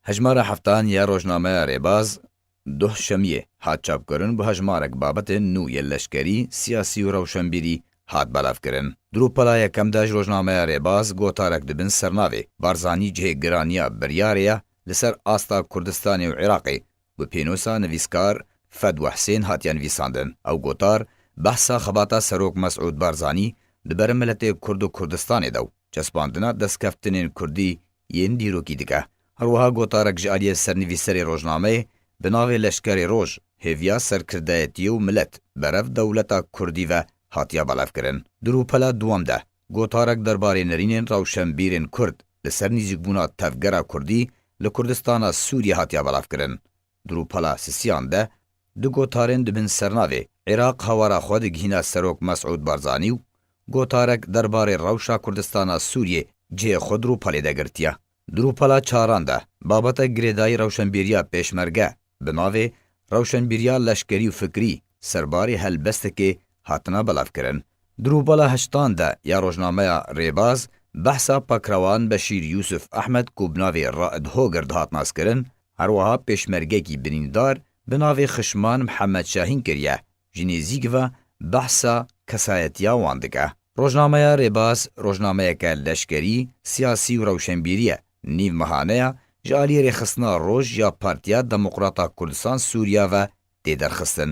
Hejmara heftan ya rojnameya Rêbaz, Duh Şemiyê, hat çapkirin bi hejmarek babetên nû yên leşkerî, siyasî û rewşenbîrî hat belavkirin. Di rûpela yekem de ji rojnameya Rêbaz gotarek di bin sernavê Barzanî cihê giraniya biryarê ye li ser asta Kurdistanê û Iraqê bi pênosa nivîskar Fedwa Husên hatiye nivîsandin. Ew gotar behsa xebata Serok Mesûd Barzanî di ber miletê Kurd û Kurdistanê de û çespandina destkeftinên Kurdî yên dîrokî dike. Her wiha gotarek ji aliyê sernivîserê rojnameyê bi navê Leşkerê Roj, hêviya serkirdeyetiyê û milet berev dewleta kurdî ve hatiye belevkirin. Di rûpela dwam de gotarek derbarê nirînên rewşenbîrên kurd li ser nîzîkbûna tevgera kurdî li Kurdistana Sûriyê hatiye belevkirin. Di rûpela sisiyan de du gotarên di bin sernavê Îraq hawara xwe digihîne Serok Mesûd Barzanî û gotarek derbarê rewşa Kurdistana Sûriyê cihê xwe di rûpelê de girtiye. Di rûpela çaran de babeta girêdayî rewşenbîriya pêşmerge bi navê Rewşenbîriya leşkerî û fikrî serbarê helbestekê hatina belavkirin. Di rûpela heştan de ya rojnameya Rêbaz behsa Pakrewan Beşîr Yûsûf Ehmed ku bi navê Raed Hoger dihat naskirin Her wiha pêşmergekî birîndar bi navê Xişman Mihemed Şahîn kiriye, ji nêzîk ve behsa kesayetiya wan dike. Rojnameya Rêbaz rojnameyeke leşkerî, siyasî û rewşenbîrî ye. Nîv mehaneya ji aliyê Rêxistina Roj ya Partiya Demokrata Kurdistan Sûriya ve tê derxistin.